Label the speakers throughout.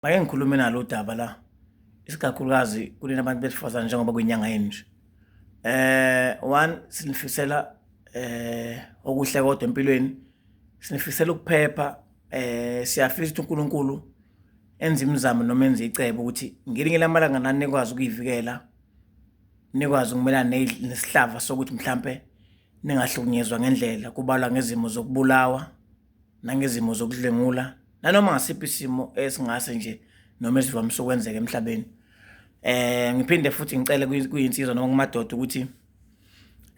Speaker 1: Ngake ngikhulume nalo udaba la isikakhulukazi kulena abantu besifazane njengoba kwinyanga yenje eh one sinifisela eh okuhle kodwa empilweni sinifisela ukuphepha eh siyafisa ukuthi uNkulunkulu enze imizamo noma enze icebo ukuthi ngelinye lamalanga nani nikwazi ukuyivikela nikwazi ukumelana nesihlava sokuthi mhlampe ningahlukunyezwa ngendlela kubalwa ngezimo zokubulawa nangezimo zokudlwengula nanoma ngasiphi isimo esingase nje noma esivamise ukwenzeka emhlabeni eh ngiphinde futhi ngicele kuyinsizwa noma kumadoda ukuthi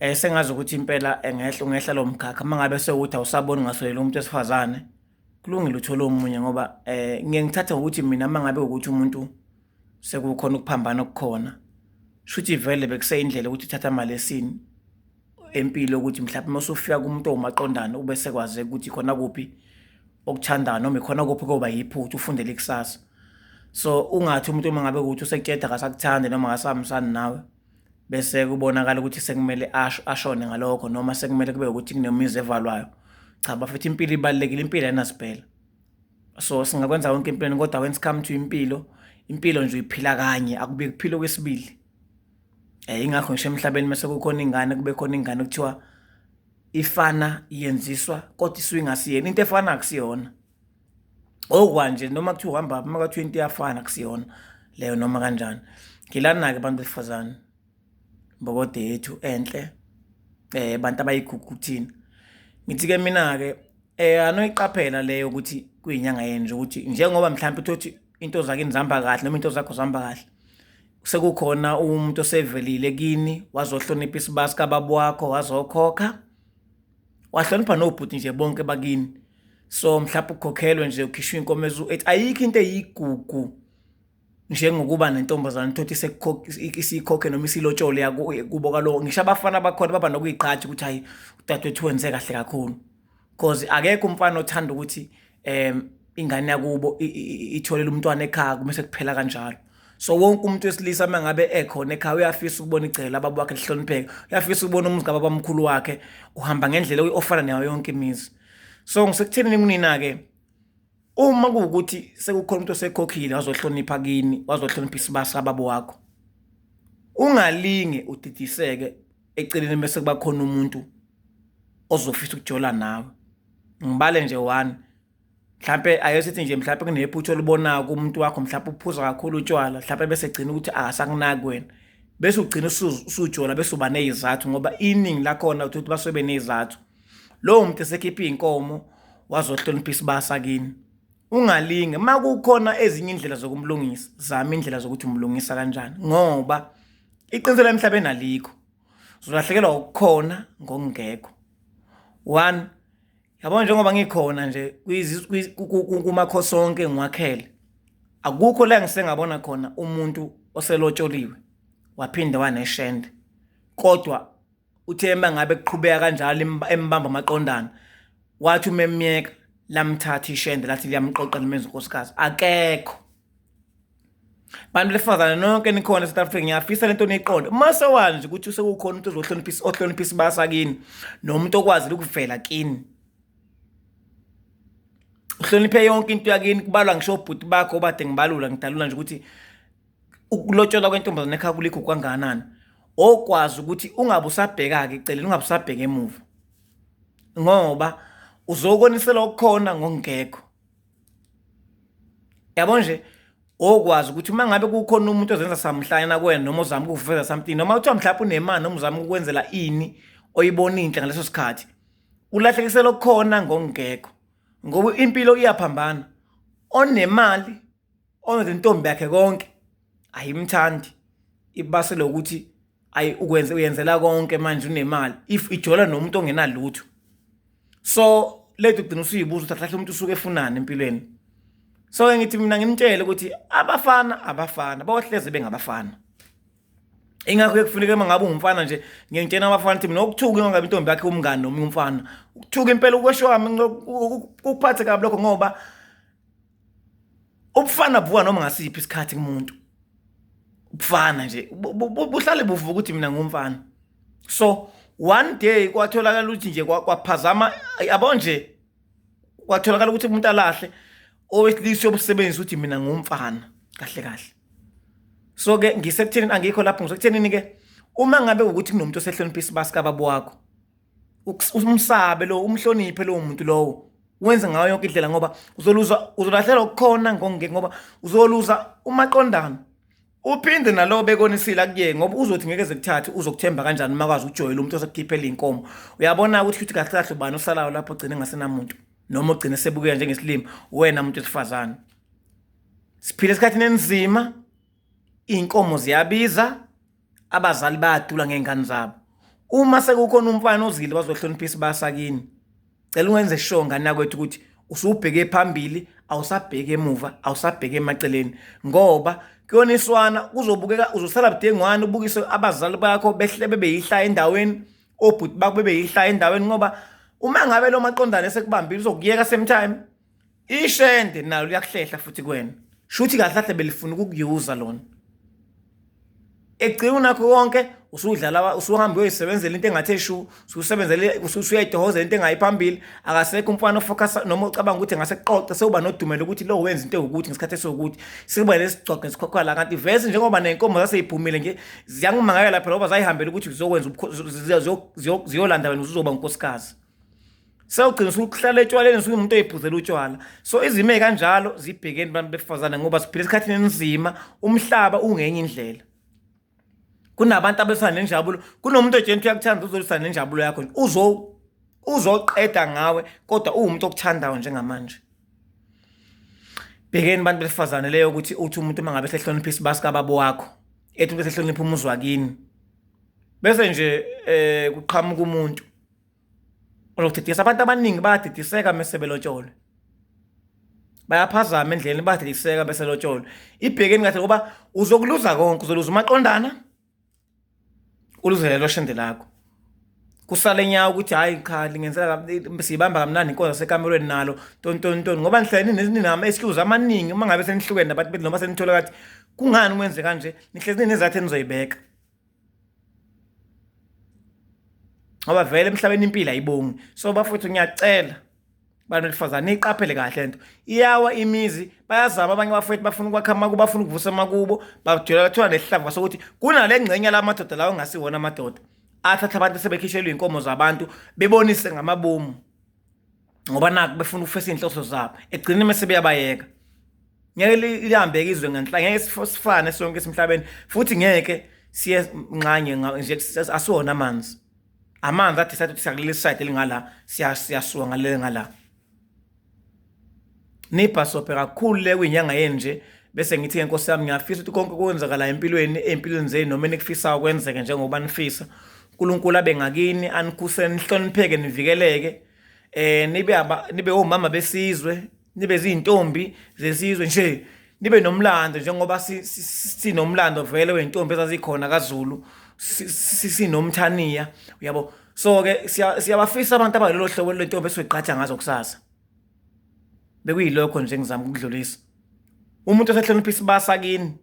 Speaker 1: eh sengazi ukuthi impela engehla ungehla lo mkhakha mangabe sewuthi awusaboni ngasolela umuntu esifazane kulungile uthole omunye ngoba eh ngiye ngithatha ukuthi mina mangabe ukuthi umuntu sekukhona ukuphambana okukhona shuthi vele bekuseyindlela ukuthi uthatha imali esini empilo ukuthi mhlawumbe uma usufika kumuntu owumaqondana ube sekwazeka ukuthi khona kuphi okuthandayo noma ikhona kuphi koba yiphutha ufundele ikusasa so ungathi umuntu uma ngabe ukuthi usekutsheda akasakuthandi noma akasamsani nawe bese kubonakala ukuthi sekumele asho ashone ngalokho noma sekumele kube ukuthi kunemizi evalwayo cha bafethu impilo ibalekile impilo ayinasiphela so singakwenza konke empilweni kodwa when it come to impilo impilo nje uyiphila kanye akubi kuphilo kwesibili um yingakho ngisho emhlabeni mase kukhona ingane kube khona ingane kuthiwa ifana yenziswa kodwa isuke ingasiyena into efana akusiyona okwanje noma kuthiwa uhamba uma kwathiwa into iyafana akusiyona leyo noma kanjani ngilana-ke abantu besifazane mbokode yethu enhle eh abantu abayigugu kuthina ngithi ke mina ke eh anoyiqaphela leyo ukuthi kuyinyanga yenu nje ukuthi njengoba mhlawumbe uthi into zakini zihamba kahle noma into zakho zihamba kahle sekukhona umuntu osevelile kini wazohlonipha isibasi kababa wakho wazokhokha wahlonipha nobhuti nje bonke bakini so mhlawumbe ukhokhelwe nje ukhishwa inkomo ezu-eight ayikho into eyigugu njengokuba nentombazane thothi isikhokhe noma isilotshole kubo kalowo ngisho abafana bakhona baba nokuyigqaja ukuthi hayi udadewethu wenze kahle kakhulu cause akekho umfana othanda ukuthi um ingane yakubo itholela umntwana ekhaya kumese kuphela kanjalo so wonke umuntu wesilisa uma ngabe ekhona ekhaya uyafisa ukubona igcela ababa wakhe lihlonipheke uyafisa ukubona umuzi kababamkhulu wakhe uhamba ngendlela ofana nayo yonke imizi so ngisekuthenini kunina-ke uma kuwukuthi sekukhona umuntu osekhokhile wazohlonipha kini wazohlonipha isibasa ababo wakho ungalinge udidiseke eceleni bese kuba khona umuntu ozofisa ukujola nawe ngibale nje one mhlampe ake sithi nje mhlampe kunephutha olibonayo kumuntu wakho mhlampe uphuza kakhulu utshwala mhlampe bese gcina ukuthi akasakunaki wena bese ugcina usujola bese uba nezizathu ngoba iningi lakhona uthi basuke benezizathu lowo muntu esekhipha izinkomo wazohloniphisa ibasa kini ungalinge uma kukhona ezinye indlela zokumlungisa zama indlela zokuthi umlungisa kanjani ngoba iqiniselo emhlabeni alikho uzolahlekelwa ukukhona ngokungekho one yabona njengoba ngikhona nje kumakho sonke ngiwakhele akukho la ngisengabona khona umuntu oselotsholiwe waphinde waneshende kodwa uthe uma ngabe kuqhubeka kanjalo embamba amaqondana wathi uma emyeka lamthatha ishende lathi liyamqoqa limenza unkosikazi akekho bantu besifazane nonke nikhona e-south africa ngiyafisa le nto niyiqonde uma sewani nje ukuthi usekukhona umuntu ozohloniphisa ohloniphisa ibasa kini nomuntu okwazile ukuvela kini uhloniphe yonke into yakini kubalwa ngisho obhuti bakho obade ngibalula ngidalula nje ukuthi ukulotsholwa kwentombazane ekhaya kulikho kwangakanani okwazi ukuthi ungabe usabheka-ke eceleni ungabe usabheka emuva ngoba uzokoniselwa okukhona ngokungekho yabo nje okwazi ukuthi uma ngabe kukhona umuntu ozenza samhlanyana kuwena noma ozama ukuveza something noma kuthiwa mhlawumbe unemali noma uzama ukwenzela ini oyibona inhle ngaleso sikhathi ulahlekisela okukhona ngokungekho ngoba impilo iyaphambana onemali Onke intombi yakhe konke ayimthandi ibase lokuthi ayi ukwenze uyenzela konke manje unemali if ijola nomuntu ongenalutho so lethu kugcina usuyibuza ukuthi ahlahle umuntu usuke efunani empilweni so ke ngithi mina ngimtshele ukuthi abafana abafana bawahleze bengabafana ingakho ekufuneka uma ngabe ungumfana nje ngiyengitshena abafana ukuthi mina ukuthuka ingabe intombi yakhe umngani noma umfana ukuthuka impela ukwesho wami ukuphathe kabi lokho ngoba ubufana buka noma ngasiphi isikhathi kumuntu ubufana nje buhlale buvuka ukuthi mina ngumfana so one day kwatholakala ukuthi nje kwaphazama yabo nje kwatholakala ukuthi umuntu alahle owesilisa yobusebenzi ukuthi mina ngumfana kahle kahle so ke ngisekutheni angikho lapho ngisekutheni ke uma ngabe ukuthi kunomuntu osehlonipha isibasi kababa wakho umsabe lo umhloniphe lowo muntu lowo wenze ngayo yonke indlela ngoba uzoluza uzolahlelwa ukukhona ngongeke ngoba uzoluza umaqondana uphinde nalowo bekonisile akuye ngoba uzothi ngeke zekuthathe uzokuthemba kanjani uma kwazi ukujoyela umuntu osekukhiphela iy'nkomo uyabona ukuthi ukuthi kahle kahle ubani osalayo lapho ogcine ngasenamuntu noma ogcine sebukeka njengesilima wena muntu wesifazane siphile esikhathini enzima iy'nkomo ziyabiza abazali bayadula ngey'ngane zabo uma sekukhona umfana ozile bazohloniphisa basakini cela ungenze sure ngane yakwethu ukuthi usubheke phambili awusabheke emuva awusabheke emaceleni ngoba kuyona iswana kuzobukeka uzosala budengwane ubukise abazali bakho behle bebeyihlaya endaweni obhuti bakho bebeyihlaya endaweni ngoba uma ngabe lo maqondane sekubambile uzokuyeka same time ishende nalo liyakuhlehla futhi kwena shuthi kahle kahle belifuna ukukuyuza lona egcina nakho konke usudlala usuhambe uyoyisebenzela into engathi eshu ususebenzele usuyayitohozela into engayi phambili akasekho umfana ofocus noma ucabanga ukuthi ngase kuqoqe sewuba nodumelo ukuthi lo wenza into ewukuthi ngesikhathi esiwukuthi sikuba lesigcogqe sikhokha la kanti vese njengoba nenkomo zaseyiphumile nje ziyangimangakela phela ngoba zayihambela ukuthi zizokwenza ziyolanda wena uzoba unkosikazi sewugcina sukuhlala etshwaleni sukumuntu oyiphuzela utshwala so izimo ezikanjalo zibhekeni abantu besifazane ngoba siphila esikhathini enzima umhlaba ungenye indlela kunabantu abesana nenjabulo kunomuntu ojeni uyakuthanda uzolisana nenjabulo yakho uzo uzoqeda ngawe kodwa uwumuntu okuthandayo njengamanje bhekeni abantu besifazane leyo ukuthi uthi umuntu uma ngabe sehlonipha isibasi kababa wakho ethi umuntu sehlonipha umuzi wakini bese nje eh kuqhamuka umuntu uzodidisa abantu abaningi bayadidiseka mese belotsholwe bayaphazama endleleni badidiseka bese lotsholwe ibhekeni kahle ngoba uzokuluza konke uzoluza umaqondana uluzele shende lakho kusale nyawo ukuthi hayi cha lingenzela siyibamba kamnandi inkonzo sekamerweni nalo tontonton ngoba nihlele ninama excuse amaningi uma ngabe senihlukene nabantu bethu noma senithole kathi kungani kwenze kanje nihlezi ninezathu enizoyibeka ngoba vele emhlabeni impilo ayibongi so bafowethu ngiyacela bantu besifazane niyiqaphele kahle lento iyawa imizi bayazama abanye abafowethu bafuna ukwakha amakubo bafuna ukuvusa amakubo bajula bathola nesihlava sokuthi kunale ngxenye la madoda lawo ngasiwona amadoda athatha abantu sebekhishelwe iy'nkomo zabantu bebonise ngamabomu ngoba naku befuna ukufesa inhloso zabo egcine mase beyabayeka ngeke lihambeke izwe ngenhla ngeke sifane sonke esimhlabeni futhi ngeke siye nxanye nje asiwona amanzi amanzi athi sathi siyakuleli side elingala siyasuka ngalele ngala nibhasobhe kakhulu le kwinyanga yenu nje bese ngithi nkosi yami ngiyafisa ukuthi konke kwenzakala empilweni empilweni zenu noma enikufisayo kwenzeke njengoba nifisa uNkulunkulu abe ngakini anikhuse nihlonipheke nivikeleke eh nibe aba nibe omama besizwe nibe izintombi zesizwe nje nibe nomlando njengoba sinomlando vele wentombi ezazikhona kaZulu sinomthaniya uyabo so ke siyabafisa abantu abalelo hlobo lentombi esiqhatha ngazo kusasa bekuyilokho nje ngizama ukudlulisa umuntu osehlonipha isibasa kini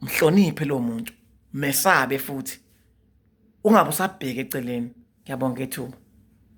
Speaker 1: mhloniphe lo muntu mesabe futhi ungabe usabheke eceleni ngiyabonga ithuba